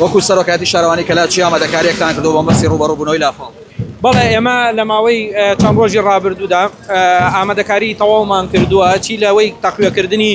وەکو سەرۆکایەتی شارەوانی کەلاچی ئامادەکاریەکتان کردووە بۆ مەرسی ڕووبەڕوو بونەوەی لافاو؟ بەڵێ ئێمە لە ماوەی چەند ڕۆژی ڕابردوودا ئامادەکاری تەواومان کردووە چی لەوەی تەقویەکردنی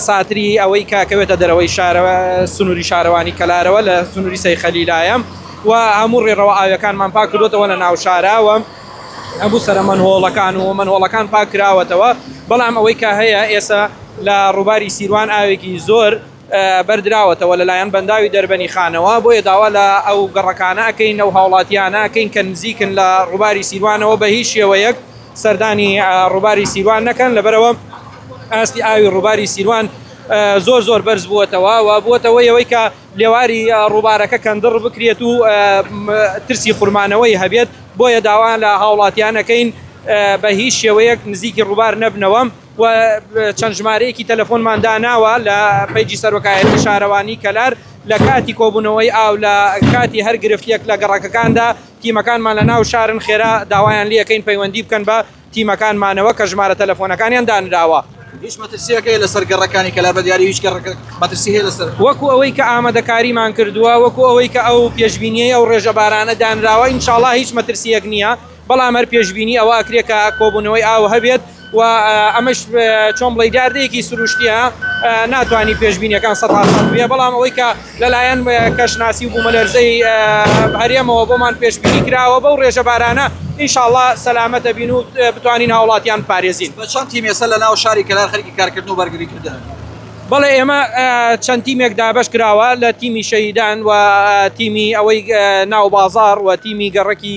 ساتری ئەوەی کە کەوێتە دەرەوەی شارەوە سنووری شارەوانی کەلارەوە لە سنووری سەی خەلیلایە و هەموو ڕێڕەوە ئاویەکانمان پاک کردوەوە لە ناو شاراوە هەموو سەرە مەنهۆڵەکان و مەنهۆڵەکان پاک کراوەتەوە بەڵام ئەوەی کە هەیە ئێستا لە ڕووباری سیروان ئاوێکی زۆر بەردراوەتەوە لەلایەن بەنداوی دەربەنی خانەوە، بۆیە داوا لە ئەو گەڕەکانە ئەکەین، ئەو هاوڵاتیانە ئەکەین کە نزیکن لە ڕووباری سیروانەوە بە هیچ شێوەیەک سەردانی ڕووباری سیروان نەکەن، لەبەرئەوە ئاستی ئاوی ڕووباری سیروان زۆر زۆر بەرز بووەتەوە و بووەتە هۆی ئەوەی کە لێواری ڕووبارەکە کەندڕ بکرێت و ترسی خورمانەوەی هەبێت، بۆیە داوا لە هاوڵاتیان ئەکەین بە هیچ شێوەیەک نزیکی ڕووبار نەبنەوە. و چەند ژمارەیەکی تەلەفۆنمان داناوە لە پەیجی سەرۆکایەتی شارەوانی کەلار لە کاتی کۆبوونەوەی ئاو لە کاتی هەر گرفتیەک لە گەڕەکەکاندا تیمەکانمان لە ناو شارن خێرا داوایان لەکەین پەیوەندی بکەن بە تیمەکانمانەوە کە ژمارە تەلەفۆنەکانیان دانراوە. هیچ مەترسیەک هەیە لەسەر گەڕەکانی کەلار بە دیاری هیچ گەڕەکە مەترسی هەیە لەسەر؟ وەکو ئەوەی کە ئامادەکاریمان کردووە وەکو ئەوەی کە ئەو پێشبینیەی ئەو ڕێژە بارانە دانراوە ئینشاڵا هیچ مەترسیەک نیە. بەڵام هەر پێشبینی ئەوە ئەکرێت کە کۆبوونەوەی ئاو هەبێت و ئەمەش چۆن بڵی داردەیەکی سروشتیە ناتوانانی پێشبینیەکان سە بێ بەڵام ئەوەی کە لەلایەن کەشناسی و بوومەلەرزەی هەرێمەوە بۆمان پێشبینی کراوە بەو ڕێژە بارانە ئینشاءڵا سەلامەتە بین و بتوانین هاوڵاتیان پارێزین بە چەند تیمێسە لە ناو شاری کەلار خەرکی کارکردن و بەرگری کردن. بەڵێ ئێمە چەند تیمێک دابش کراوە لە تیمی شەهیدان و تیمی ئەوەی ناو بازار و تیمی گەڕەکی